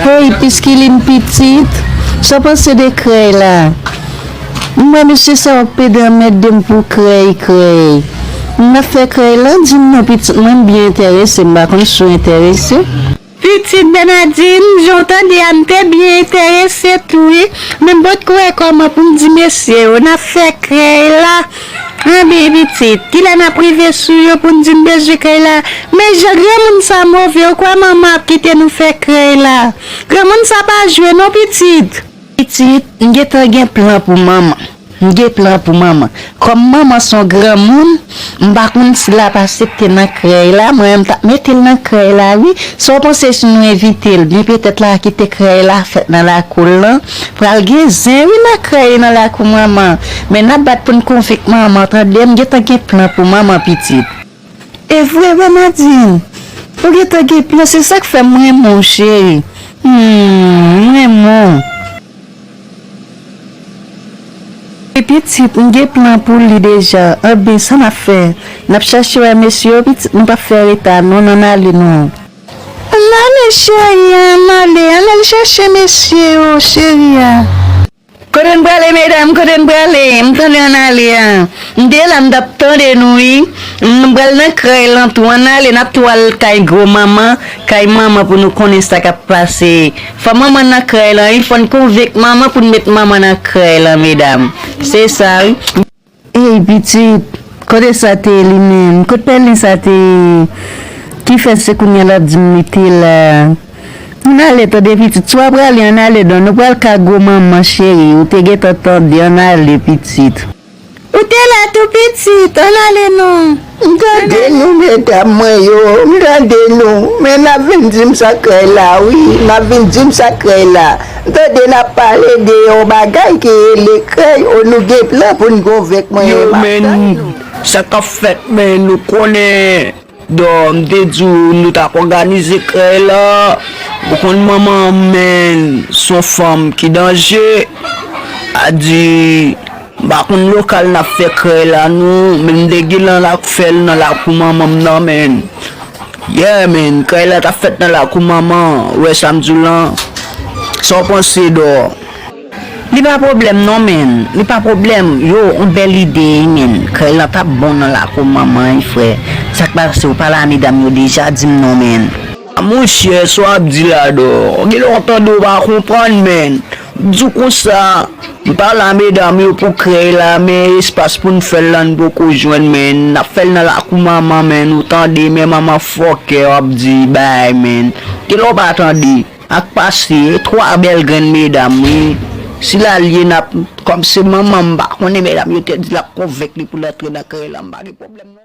Hey piskiline pitit Saw panse de krèy la M wè mesye sa yo pede anmède m pou krèy krèy M nap fè krèy lan dim non pitit mwen m byen entèrese m pa konn si w entèrese. Pitit Bernadin jan w tande a m te byen entèrese tou wi men m potko wè kòman pou m di mesye yo nap fè krèy la. Anbyen pitit, kilè nap rive sou yo pou n di n bezwen krèy la? Men jan granmoun sa move, ou kwè manman ap kite nou fè krèy la? Granmoun sa pa jwe non pitit! Pitit, m gentan gen plan pou manman. M gen plan pou manman. Kòm manman son granmoun, m pa konn si lap asepte nan krèy la, mwen menm m tap mete l nan krèy la wi. Sa w panse si nou envite l? Byen petèt la kite krèy la fèt nan lakou l lan. Pral gen zen wi nan krèy nan lakou manman men nap bat poun konvenk manman tande m gentan gen plan pou manman pitit. Evre wi Nadine ou gentan gen plan se sak fè m renmen w cheri humm m renmen w. Wi pitit m gen plan pou li deja anben sa nap fè nap chache wè mesye yo pitit nou pap fè reta non nan ale nou. An ale cheri an ale an al chache mesye yo cheri an. Kote n prale medam kote n prale m tande an ale a m te la m tap tande nou wi m pral nan kay lan tou an ale nap tou al kay gro manman kay manman pou nou konnen sa kap pase fò manman nan kay lan wi fòn konvenk manman pou n met manman nan kay lan medam se sa wi. Ey pitit, kote sa te li menm? Kot pèlen sa te ye? Ki fè se kounya lap di m li te la? Ann ale tande pitit, si w ap rale ann ale don, nou pral ka gwo manman cheri, ou te gentan tande, ann ale pitit. Ou te la tou pitit, ann ale non. M tande nou medam mwen yo m tande nou men nap vin dim sa krèy la wi nap vin dim sa krèy la m tande nap pale de yon bagay ki rele krèy o nou gen plan poun gonvenk mwen Yo map men tann nou. sa kap fèt men nou konnen dò m te diw nou tap òganize krèy la ou konn manman men son fanm ki danje a di. M pa konn lokal nap fè krèy la non men m te gen lan lap fèl nan lakou manman m nan menn yeah menn krèy la tap fèt nan lakou manman an ou wè sam diw lan Saw panse dò. Li pa pwoblèm non menn. Li pa pwoblèm yo on bèl ide ui menn krèy lan tap bon nan lakou manman ui frè sak pase ou pale a medam yo deja dim non menn. Ah monchè sa w ap di la dor gen lè w tande w pa konprann menn m di w konsa m pa la medam yo pou krèy la men espas pou n fè l la n poko jwenn menn n ap fè l nan lakou manman menn ou tande men manman fòkè w ap di bay menn gen lè w pa tande ak pase 3 bèl grenn medam wi si la l ye n ap kòm se manman m pa konnen medam yo te di l ap konvenk li pou l antre nan krèy la m pa gen pwoblèm non.